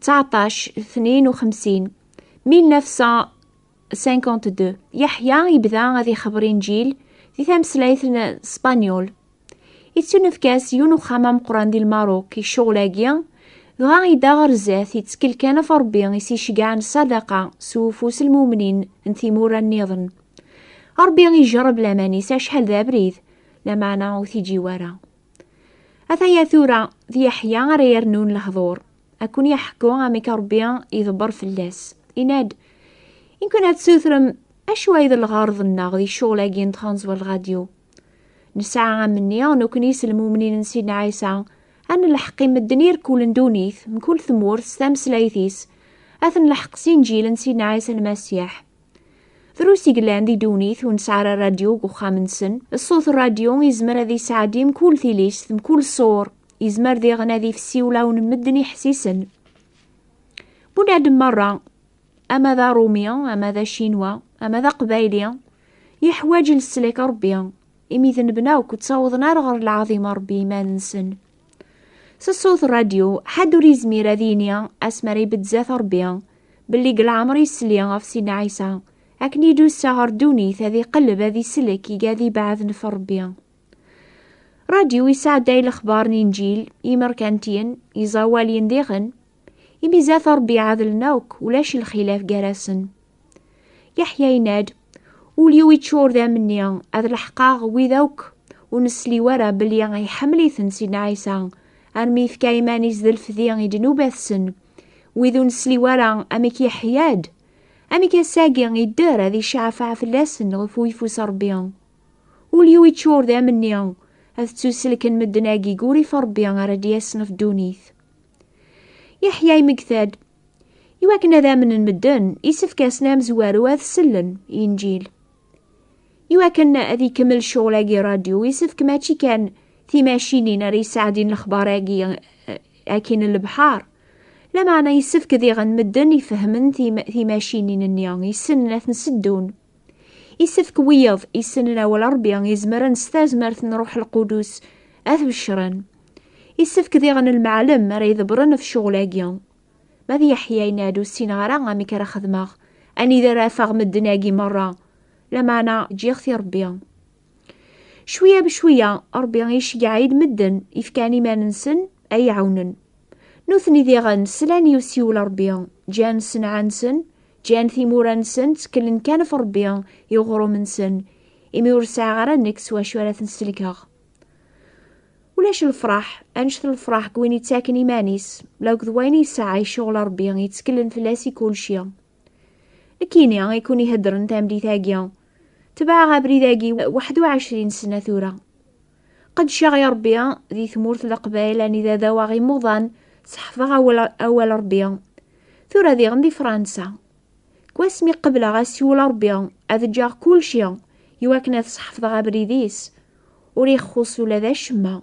19 52 1952 Yeḥya yebda ad ixebber inǧil di tameslayt n Spanyul. Ittunefk-as yiwen uxxam ameqran di Lmaruk i ccɣel-agi, dɣa yedda ɣer zdat yettkel kan ɣef Rebbi i s-icegɛen sadaqa s ufus n lmumnin n timura nniḍen. Rebbi ijerreb laman-is acḥal d abrid, lameɛna ur t-iǧiw ara. Ataya tura d Yeḥya ara yernun lehḍur. Ad ken-yeḥku amek Ṛebbi iḍebber fell-as. Yenna-d, In kunna tessutrem, acu ay d lɣerḍ-nneɣ di ccɣel-agi n tɣanẓwa n lradyu? Nesɛa amenni nekkni s lmumnin n Sidna Ɛisa, ad nelḥeq i medden i irkulen ddunit, mkul tmurt s tameslayt-is, ad ten-leḥq s Inǧil n Sidna Ɛisa Lmasiḥ. Drus i yellan di ddunit ur nesɛi ara radyu deg uxxam-nsen. Ṣṣut n radyu yezmer ad yesɛeddi mkul tilist, mkul ṣṣur. Yezmer diɣen ad ifessi ulaw n medden iḥessisen. Bunadem merra, ama d Arumi, ama d Acinwa, ama d Aqbayli, yeḥwaǧ leslak n Ṛebbi, imi d nebna akk ttawḍen ar ɣer lɛaḍima n Ṛebbi iman-nsen. s ṣṣut ṛṛadyu ḥedd ur yezmir ad yini asmi ara ibedd zdat Ṛebbi belli deg leɛmer yesli ɣef Sidna Ɛisa akken i d-ussa ɣer ddunit ad iqelleb ad islek iga ad ibɛed nef Ṛebbi. Ṛṛadyu yesɛedday lexbar n Inǧil imerkantiyen iẓawaliyen diɣen imi zdat Ṛebbi ɛedlen akk ulac lxilaf gar-asen. Yeḥya yenna-d, Ul-iw iččur d amenni, ad leḥqeɣ wid akk ur nesliw ara belli iḥemmel-iten Sidna Ɛisa, armi yefka iman-is d lfdi i ddnubat-sen. Wid ur nesliw ara, amek yeḥya-d? Amek ass-agi idder ad iceɛfeɛ fell-asen ɣef uyeffus n Ṛebbi? Ul-iw iččur d amenni, ad ttuselken medden-agi deg urrif n Ṛebbi ara d-yasen ɣef ddunit. Yeḥya imegta-d, I wakken ad amnen medden, isefk-asen amezwaru ad sellen i Inǧil. I wakken ad ikemmel ccɣel-agi radyu, isefk mačči kan timacinin ara yesɛeddin lexbar-agi eh, akkin n lebḥar. Lameɛna isefk diɣen medden ifehmen timacinin-nni, yessnen ad ten-seddun. Isefk wiyaḍ isenen awal Rebbi izemren s tazmert n Ruḥ Lqudus ad beccren. Isefk diɣen lmeɛlem ara idebren ɣef ccɣel-agi. Ma d Yeḥya yenna-d ur ssineɣ ara amek ara xedmeɣ, anida ara afeɣ medden-agi merra, lameɛna ǧǧiɣ-t i Rebbi. Cwiya bcwiya, Ṛebbi iceyyeɛ-id medden ifkan iman-nsen ad iɛawnen. Nutni diɣen slan i usiwel n Ṛebbi, ǧǧan ssenɛa-nsen, ǧǧan timura-nsen, tteklen kan ɣef Ṛebbi i uɣrum-nsen, imi ur sɛiɣ ara nekk s wacu ara ten-sellkeɣ. Ulac lefṛaḥ, anect n lefṛaḥ deg win yettaken iman-is, la akked wayen yesɛa, icuɣel Ṛebbi, yetteklen fell-as i kulci. Kini i kun iheddren tamlit-agi. Tebɛeɣ abrid-agi 21 sena tura. Qedceɣ i Rebbi di tmurt Leqbayel anida d awaɣ imuḍan, seḥfḍeɣ awal Rebbi. Tura diɣen di Fransa. Kwasmi qebleɣ asiwel Rebbi, ad ǧǧeɣ kulci iwakken ad seḥfḍeɣ abrid-is. Ur ixxus ula d acemma.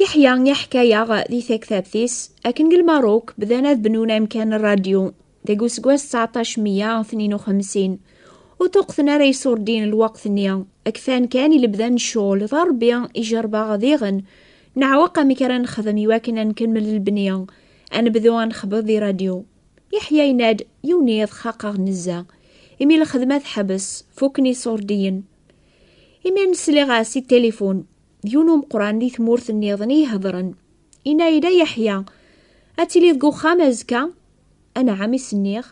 Yeḥya iḥka-yaɣ di taktabt-is akken deg Lmaruk bdan ad bnun amkan n rradyu deg useggas 1952 ur tuqten ara iṣurdin n lweqt-nni kfan kan i lebda n ccɣel d Ṛebbi ijerbeɣ diɣen neɛweq amek ara nexdem iwakken ad nkemmel lebni ad nebdu ad nexbeḍ di rradyu Yeḥya yenna-d yiwen yiḍ xaqeɣ nezzeh imi lxedma teḥbes fukken iṣurdiyen Imi nesliɣ-as i telefon, yiwen umeqran di tmurt nniḍen i ihedren. Inna-yi-d a Yeḥya, ad tiliḍ deg uxxam azekka? Anɛam i s-nniɣ.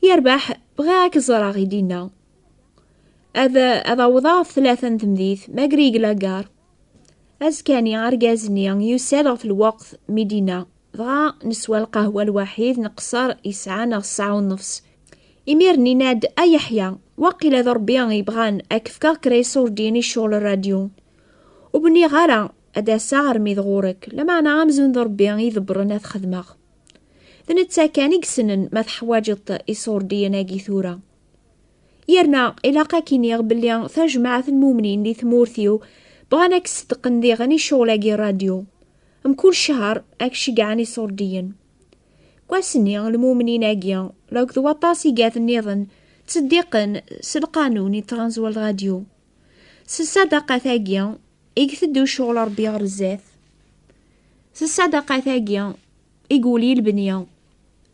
Yerbeḥ, bɣiɣ ad k-ẓreɣ, i d-inna. Ad, ad awḍeɣ ɣef tlata n temdit, Magri Glagar. Azekani, argaz-nni yusa-d ɣef lweqt mi d-yenna, dɣa neswa lqahwa lwaḥid neqṣer yesɛa neɣ ssaɛa unefṣ. Imir-nni yenna-d, A Yeḥya, waqila d Ṛebbi i yebɣan ad k-fkeɣ kra iṣurdiyen i ccɣel n radyu. Ur bniɣ ara ad d-aseɣ armi d ɣur-k, lameɛna amzun d Ṛebbi i idebbṛen ad t-xedmeɣ. D netta kan i yessnen ma teḥwaǧeḍ-t iṣurdiyen-agi tura. yerna ilaq ad k-iniɣ belli tajmaɛt n mumnin di tmurt-iw bɣan ad k-sdeqqen diɣen i ccɣel-agi n radyu. Mkul ccehr ad k-ceggɛen iṣurdiyen. Deg wass-nni, lmumnin-agi, akked waṭas igad-nniḍen, ttseddiqen s lqanun i tɣanzwa n radyu. S ṣṣadaqat-agi i iteddu ccɣel n Rebbi ɣer zdat. S ṣṣadaqat-agi i iwuli lebni.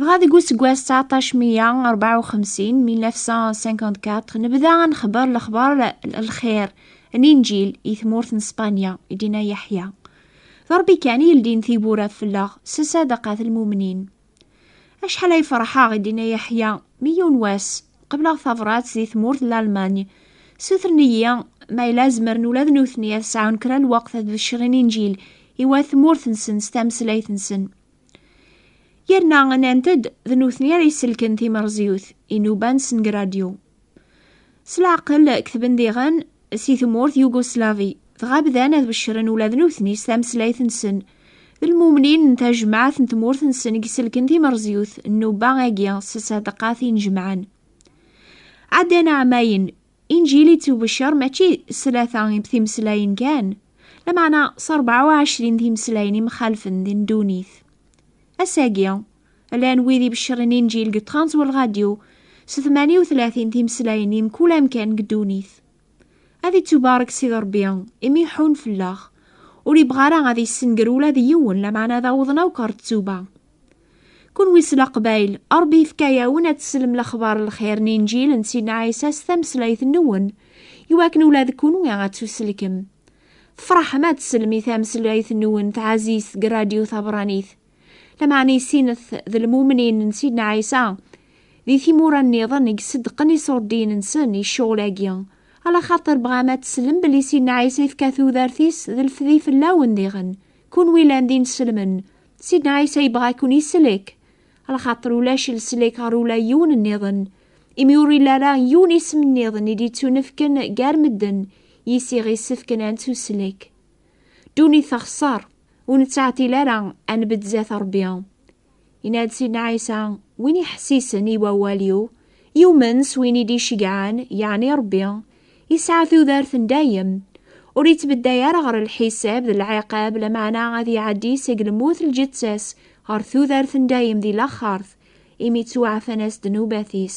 dɣa deg useggas 1954 nebda ad nexber lexber lxir n inǧil i tmurt n Spanya i dina Yeḥya d Rebbi kan i yeldin tiwwura fell-aɣ s sadaqat lmumnin acḥal ay ferḥeɣ i dina Yeḥya mi yiwen wass Qebleɣ tabrat di tmurt n Lalmany. Sutren-iyi ma yella zemren ula d nutni ad sɛun kra n lweqt ad beccren injil i wat tmurt-nsen s tameslayt-nsen. Yerna nnant-d d nutni ara yesselken timerẓyut, inuban s ngradyu. S leɛqel, ketben diɣen, si tmurt Yugoslavi, dɣa bdan ad beccren ula d nutni s tameslayt-nsen. D lmumnin n tajmaɛt n tmurt-nsen i iselken timerzyut n nubba-agi s ṣṣadaqat inejmaɛen. Ɛeddan ɛamayen, inǧil ittubeccer mačči s tlata timeslayin kan, lameɛna s rebɛa u ɛecrin timeslayin imxalfen di ddunit. Ass-agi, Llan wid ibecren inǧil deg ṭṭxan u lradyu, s tmanya u tlatin timeslayin i mkul amkan deg ddunit. Ad ittubarek Sidi Rebbi, imi iḥun fell-aɣ, ur ibɣa ara ad issenger ula d yiwen, lameɛna ad awḍen akk ɣer ttuba. Kunwi s Leqbayel, Rebbi yefka-awen ad teslem lexbar n lxir n inǧil n Sidna Ɛisa s tameslayt-nwen, iwakken ula d kunwi ad tuselkem. Tefraḥem ad teslem i tameslayt-nwen taɛzizt deg radyu tabeṛṛanit. Lameɛna i sinet d lmumnin n Sidna Ɛisa, di timura nniḍen i iseddqen iṣurdiyen-nsen i ccɣel-agi, ala xaṭer bɣam ad teslem belli Sidna Ɛisa yefka tudert-is d lefdi fell-awen diɣen, kunwi llan d ineslmen, Sidna Ɛisa yebɣa-ken islek, ala xaṭer ulac leslek ɣer ula yiwen nniḍen, imi ur illi ara yiwen isem nniḍen i d-ittunefken gar medden, yis-i ɣ-issefken ad nettuslek. Duni texṣer, ur nettɛetil ara ad nbedd zdat Rebbi. Yenna-d Sidna Ɛisa, win iḥessisen i wawal-iw, yumen s win i d-iceggɛen, yeɛni Rebbi, yesɛa tudert n dayem. Ur yettbedday ara ɣer lḥisab d lɛiqab, lameɛna ad iɛeddi seg lmut lǧeţţa-s ɣer tudert n dayem di laxert, imi ttwaɛfan-as ddnubat-is.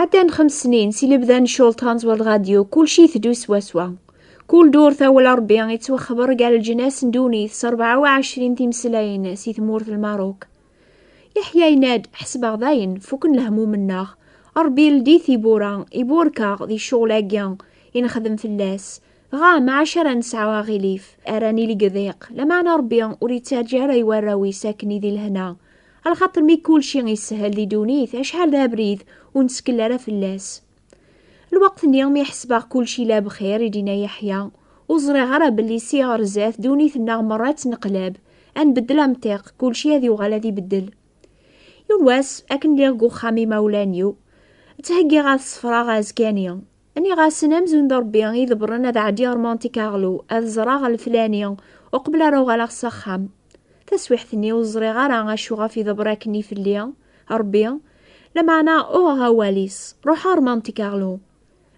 Ɛeddan xems snin si lebda n cultan zwar lɣadyu, kulci iteddu swaswa. Kul durt awal Rebbi yettwaxber gar lǧnas n ddunit s 24 timeslayin si tmurt n Lmaruk. Yeḥya yenna-d, ḥesbeɣ dayen, fuken lehmum-nneɣ. Rebbi yeldi tiwwura, iburek-aɣ di ccɣel-agi i nexdem fell-as. Dɣa maɛac ara nesɛu aɣilif, ara nili deg ḍiq, lameɛna Ṛebbi ur ittaǧǧa ara i warraw-is akken i di lehna. Alxaṭer mi kulci ishel di ddunit, acḥal d abrid ur nettkel ara fell-as. Lweqt-nni mi ḥesbeɣ kulci la bxir, i d-yenna Yeḥya, ur ẓriɣ ara belli si ɣer zdat ddunit-nneɣ merra ad tt-neqleb, ad nbeddel amṭiq, kulci ad yuɣal ad ibeddel. Yiwen wass, akken lliɣ deg uxxam imawlan-iw, ttheggiɣ ad sefreɣ azekka-nni, Nniɣ-asen amzun d Ṛebbi i debren ad ɛeddiɣ ɣer Monte Carlo ad ẓreɣ leflani uqbel ara uɣaleɣ s axxam. Taswiḥt-nni ur ẓriɣ ara acu ɣef ideber akken i fell-i Ṛebbi, lameɛna uɣeɣ awal-is, ruḥeɣ ɣer Monte Carlo.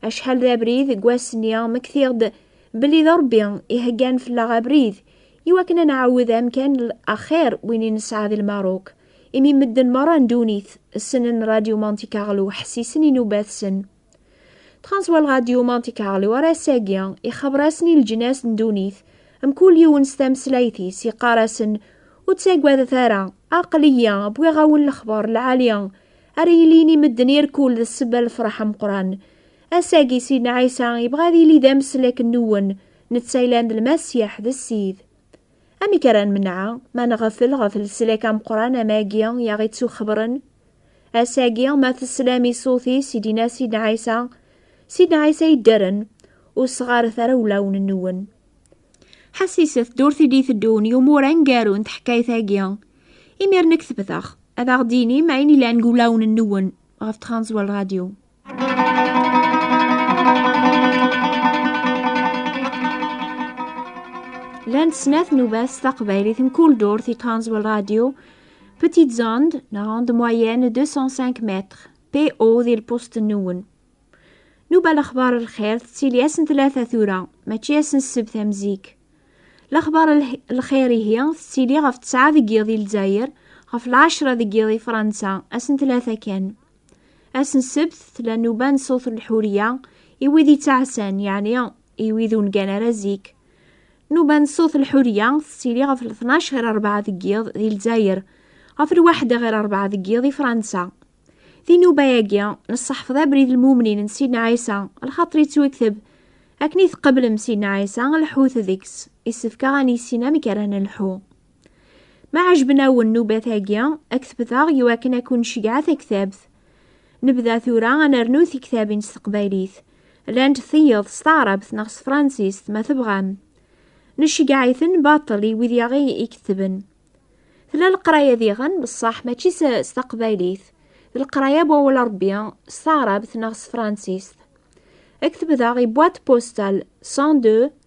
Acḥal d abrid deg wass-nni mmektiɣ-d belli d Ṛebbi iheggan fell-aɣ abrid i wakken ad nɛawed amkan axir win i nesɛa di Lmaruk, imi medden merra n ddunit ssnen Radio Monte Carlo ḥessisen inubat-sen. Transwal Radio Monte Carlo ar ass-agi ixaber-asen i leǧnas n dunit mkul yiwen s tameslayt-is yeqqar-asen ur ttagadet ara aql-iyi wwiɣ-awen lexbar lɛali ara yilin i medden irkul d ssebba lefraḥ ameqran ass-agi Sidna Ɛisa yebɣa ad yili d ameslek n-wen netta yellan d lmasiḥ d ssid Amek ara nmenɛa ma nɣefel ɣef leslak ameqqran amagi i aɣ-ittuxebren? Ass-agi ma teslam i ṣṣut-is i d-inna Sidna Ɛisa, Sidna Ɛisa yedderen, ur sɣaret ara ulawen-nwen. Ḥassiset-d ur t-id-iteddun yumur aneggaru n teḥkayt-agi. Imir nekk tebdeɣ, ad aɣ-d-inim ayen ilan deg ulawen-nwen ɣef Transworld Radio. Llant snat nubas taqbaylit n kul durt i Transworld Radio, Petite Zand, neɣ onde moyenne 205 mètres, PO di lpust nwen. Nuba lexbar lxir tettili ass n tlata tura, mačči ass n ssebt am zik. Lexbar lxir ihi tettili ɣef tesɛa deg yiḍ i Lezzayer, ɣef lɛecra deg yiḍ i Fransa, ass n tlata kan. Ass n ssebt tella nnuba n ṣṣut n lḥuriya i wid yettɛassan, yeɛni i wid ur ngan ara zik. Nnuba n ṣṣut n lḥuriya tettili ɣef tnac ɣer rebɛa deg yiḍ di Lezzayer, ɣef lwaḥda ɣer rebɛa deg yiḍ di Fransa. Di nnuba-agi, nesseḥfeḍ abrid lmumnin n Sidna Ɛisa, lxaṭer yettwekteb, akken i tqeblem Sidna Ɛisa, lḥut deg-s, isefk-aɣ ad nissin amek ara nelḥu. Ma ɛejben-awen nubat-agi, ad k-tebteɣ i wakken ad kun-cegɛa taktabt. Nebda tura ad nernu tiktabin s teqbaylit. Llant tiyeḍ s taɛrabt neɣ s tefransist, ma tebɣam. Necegɛa-iten baṭel i wid yaɣ ikettben. Tella leqraya diɣen, beṣṣaḥ mačči s s taqbaylit. D leqraya n wawal n Rebbi s taɛrabt neɣ s tefransist. Ad k-tebdeɣ i boîte postale 102